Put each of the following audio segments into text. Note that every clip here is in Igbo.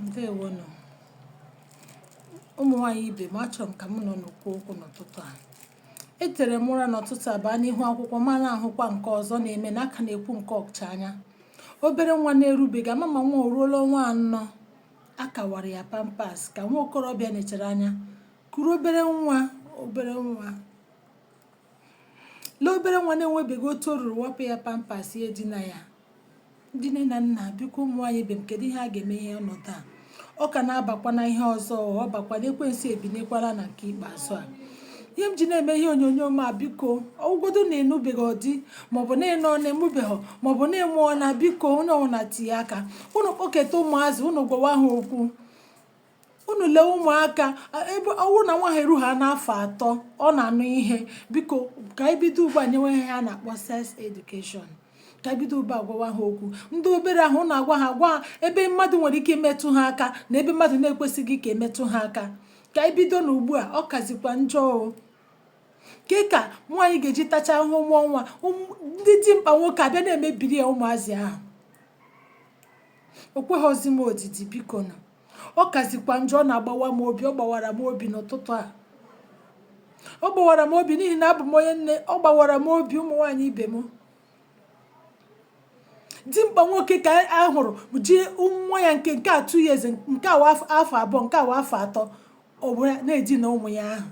ndewo nụ ụmụ nwanyị ibe m achọrọ m ka mụ na ụnụ kwuo okwu n'ụtụtụ a etere m ụra n'ụtụtụ a baa n'ihu akwụkwọ ma na-ahụkwa nke ọzọ na-eme na a ka na-ekwu nke ochanya obere nwa na-erubeghị ama ma nwa o ruola ọnwa anọ a ka wara ya pampers ka nwa okorobịa nechara anya kuru obere nwa obere nwa lee obere nwa na-enwebeghị otu o ruru wapụ ya pampers ya edina ya ndị nne na nna biko ụmụ nwaanyị ibe m kedu ihe a ga-eme ihe ọnọdụ a ọ ka na-abakwa na ihe ọzọ ọ bụkwa na ekwensu ebinyekwala na nke ikpeazụ a ihe m ji na-eme ihe onyonyo m a biko ọ wụgodu na ị nụbeghị di maọbụ na ị nụọna ị mụbeghị maọbụ na ị mụọna biko onye ọbụla tinye aka ụnụ kpọketa ụmụazị ụnụ gwawa ha okwu unu lee ụmụaka ebe ọ wụ na nwa ha eruhana afọ atọ ọ na-anụ ihe biko ka anyị bido ugbu a nyewe ihe a na-akpọ sex education ka anyị bido ugbu a gwawa ha okwu ndị obere ahụ na-agwa ha gwa ha ebe mmadụ nwere ike imetụ ha aka na ebe mmadụ na-ekwesịghị ka e metụ ha aka ka anyị bidonụ ugbu a ọ kazikwa njọ o kee ka nwaanyị ga-eji tacha ahụhụ mụọ nwa ndị dimkpa nwoke abịa na-emebiri ya ụmụazị ahụ o kweghịzi m odidi biko na ọ kazikwa njọ ọ na-agbawa m obi ọ gbawara m obi n'ụtụtụ a ọ gbawara m obi n'ihi na abụ m onye nne ọ gbawara m obi ụmụ nwaanyị ibe m dimkpa nwoke ka a hụrụ ji nwa ya nke nke a two years nke a nwa afọ abụọ nke a nwa afọ atọ ọ were na-edina ụmụ ya ahụ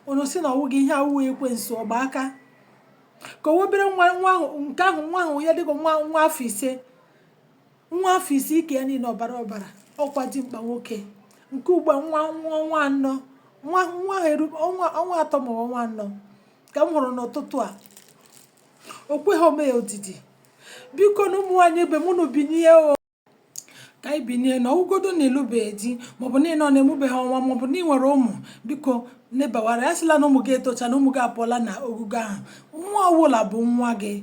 unu sị na ọ wụghị ihe a wụghị ekwensu ọgba aka ka o obere nwa nwa ahụ nke ahụ nwa ahụ ya dịka nwa nwa afọ ise nwa afọ isii ike ya niile ọbara ọbara ọkwa dimkpa nwoke nke ugbu a nwa nwa ọnwa anọ nwa nwa ahụ eru ọnwa ọnwa atọ ma ọnwa anọ ka m hụrụ n'ụtụtụ a o kweghị m ya odidi biko nụ ụmụ nwaanyị ibe m unu binye o ka anyị binye nụ ọ wụgodu na ị lụbeghị di maọbụ na ị nụọna ị mụbeghị nwa maọbụ na ị nwere ụmụ biko nebawara ya asịla na ụmụ gị etocha na ụmụ gị apụọla na ogogo ahụ nwa ọwụla bụ nwa gị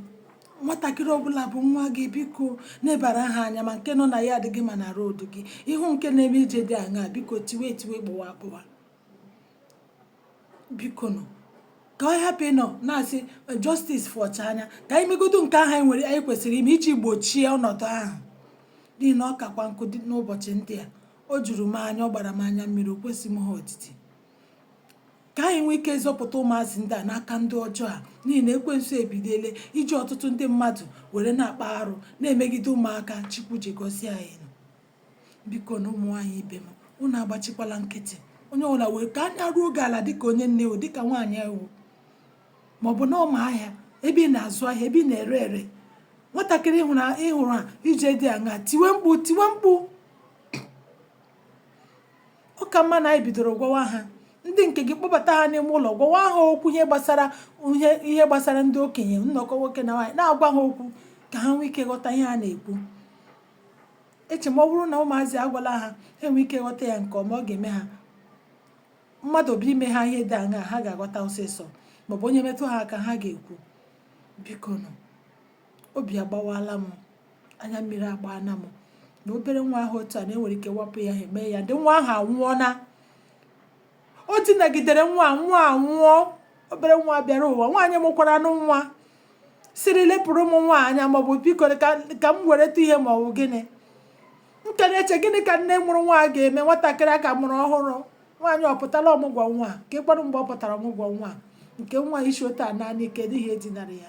nwatakịrị ọbụla bụ nwa gị biko nebara ha anya ma nke nọ na yard gị ma na road gị ị hụ nke na-eme ije dị aṅaa biko tiwe tiwe gbụwa agbụwa biko nụ ka a hapụ ịnọ na-asị eh, justice for ochanya ka anyị megodu nke ahụ anyị nwere anyị kwesịrị ime iji gbochie ọnọdụ ahụ n'ihi na ọ kakwa nkụ dị n'ụbọchị ndị a o juru m anya ọ gbara m anya mmiri o kwezi m ha odidi ka anyị nwee ike zọpụta ụmụazị ndị a n'aka ndị ọjọọ a n'ihi na ekwensu ebiliele iji ọtụtụ ndị mmadụ were na-akpa arụ na-emegide ụmụaka chukwu ji gọzie anyị nụ biko nụ ụmụ nwaanyị ibe m unu agbachikwala nkịtị onye ọbụla mee ka anya ruo gị ala dịka onye nne o dịka nwaanyị ị wụ ma ọ bụ n'ọma ahịa ebe ị na-azụ ahịa ebe ị na-ere ere nwatakịrị ị hụrụ a ije dị aṅa tiwe mkpu tiwe mkpu ọ ka mma na anyị bidoro gwawa ha ndị nke gị kpọbata ha n'ime ụlọ gwawa ha okwu ihe gbasara ihe ihe gbasara ndị okenye nnọkọ nwoke na nwaanyị na-agwa ha okwu ka ha nwee ike ghọta ihe a na-ekwu eche m ọ bụrụ na ụmụazị a gwala ha ha nwee ike ghọta ya nke ọma ọ ga-eme ha mmadụ bịa ime ha ihe dị aṅaa ha ga-aghọta ọsịsọ maọbụ onye metụ ha aka ha ga-ekwu biko nụ obi agbawaala m anya mmiri agbaana m na obere nwa ahụ otu a na-enwere ike wapụ ya ha eme ya ndị nwa ahụ anwụọ na o dinagidere nwa nwa anwụọ obere nwa bịara ụwa nwaanyị mụkwaranụ nwa sịrị lepụrụ m nwa anya maọbụ biko ka m wereta ihe maọbụ gịnị m ka na-eche gịnị ka nne mụrụ nwa ga-eme nwatakịrị a ka mụrụ ọhụrụ nwaanyị ọ pụtara ọmụgwọ nwa ka ịkpọrọ mgbe ọ pụtara ọmụgwọ nwa nke nwa isi otu a naanị kedu ihe dinara ya